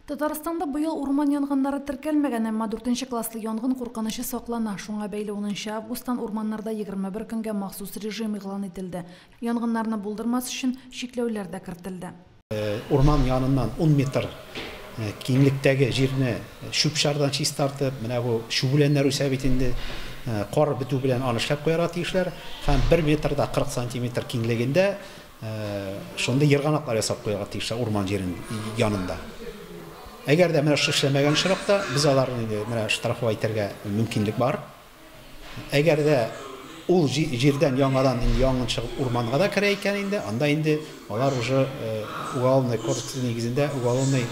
Татарстанда быел урман янгыннары теркәлмәгән, әмма дүртенче класслы янгын куркынычы саклана. Шуңа бәйле унынчы августтан урманнарда егерме бер көнгә махсус режим игълан ителде. Янгыннарны булдырмас өчен чикләүләр дә кертелде. Урман яныннан ун метр киңлектәге җирне чүп-чардан чистартып, менә бу чүбүләннәр үсә бит инде, кар бетү белән аны эшләп куярга тиешләр һәм бер метрда кырык сантиметр киңлегендә Шундый ерганаклар ясап куярга тиешләр урман җирен янында. Әгәр дә менә шушы эшләмәгән очракта, без аларны инде менә штрафовать итәргә мөмкинлек бар. Әгәр дә ул җирдән яңадан янгын чыгып урманга да керә икән инде, анда инде алар уже уголовный кодекс нигезендә уголовный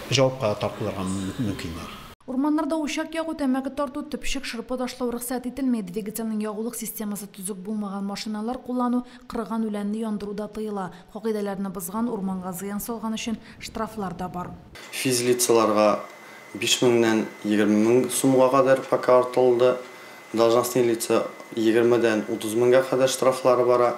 җавапка тартылырга мөмкиннәр. Урманнарда учак ягу, тәмәке тарту, төпчек, шырпы ташлау рөхсәт ителми, двигательнең ягулык системасы төзек булмаган машиналар куллану, кырыган үләнне яндыру да тыела. Кагыйдәләрне бозган, урманга зыян салган өчен штрафлар да бар. Физлицаларга биш меңнән егерме мең сумга кадәр пока артылды, должностные лица егермедән утыз меңгә кадәр штрафлары бара.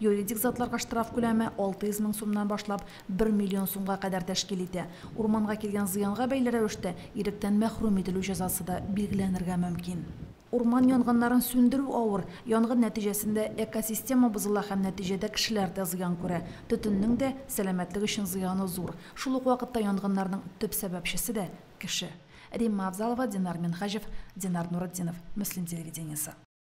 Юридик затларга штраф күләме 600 мең сумнан башлап бер миллион сумга кадәр тәшкил итә. Урманга килгән зыянга бәйле рәвештә иректән мәхрүм ителү җәзасы да билгеләнергә мөмкин. Урман янгыннарын сүндерү авыр, янгын нәтиҗәсендә экосистема бозыла һәм нәтиҗәдә кешеләр дә зыян күрә. Төтеннең дә сәламәтлек өчен зыяны зур. Шул ук вакытта янгыннарның төп сәбәпчесе дә, кеше. Римма Авзалова, Динар Минһаҗев, Динар Нуретдинов, Мөслим телевидениесе.